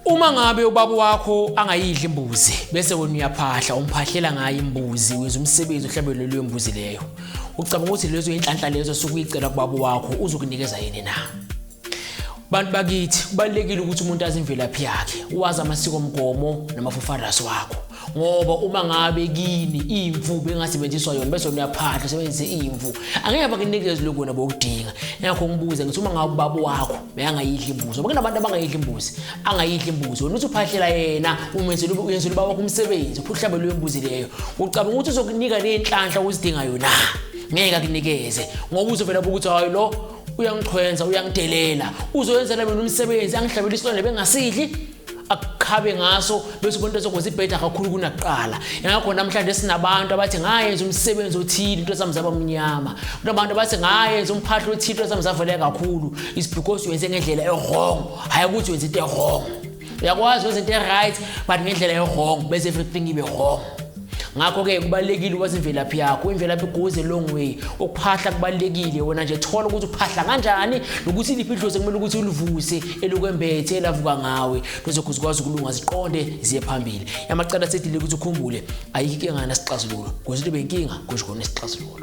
Uma ngabe ubaba wakho angayidli imbuzi bese wena uyaphahla umphahlela ngayo imbuzi wenza umsebenzi ohlabelwe leyo mbuzi leyo. Ucabanga ukuthi lezo inhlanhla lezo sukuyicela kubaba wakho uzokunikeza yini na? Bantu bakithi kubalekile ukuthi umuntu azimvelaphi yakhe, wazi amasiko omgomo namafofarasi wakho. ngoba uma ngabe kini imvu bengasebenziswa yona bese niyaphahla sebenzise imvu angeke bakunikeze lokho wena bokudinga ngakho ngibuze ngithi uma ngabe ubaba wakho beyangayidla imbuzi ngoba kunabantu abangayidla imbuzi angayidla imbuzi wena uthi uphahlela yena umenzela uyenzela ubaba wakho umsebenzi uphuhlabe leyo mbuzi leyo ucabanga ukuthi uzokunika nenhlanhla uzidinga yona ngeke akunikeze ngoba uzovela ukuthi hayi lo uyangichwenza uyangidelela uzoyenzela mina umsebenzi angihlabela isilwane bengasidli akukhabe ngaso bese umuntu ezokwenza ibheda kakhulu kunakuqala ingakho namhlanje sinabantu abathi ngayenza umsebenzi othile into zami zaba mnyama kunabantu abathi ngayenza umphahla othile into zami zavele kakhulu is because wenze ngendlela ewrong hhayi ukuthi wenza into ewrong uyakwazi wenza into e-right but ngendlela ewrong bese everything ibe wrong ngakho-ke kubalulekile ukwazi imvelaphi yakho imvelaphi goes a long way ukuphahla kubalulekile wena nje thola ukuthi uphahla kanjani nokuthi liphi idlozi kumele ukuthi ulivuse elukwembethe elavuka ngawe lozokhu zikwazi ukulunga ziqonde ziye phambili yamacala sedile ukuthi ukhumbule ayikho inkingana sixazululo ngozi libe inkinga kusho khona isixazululo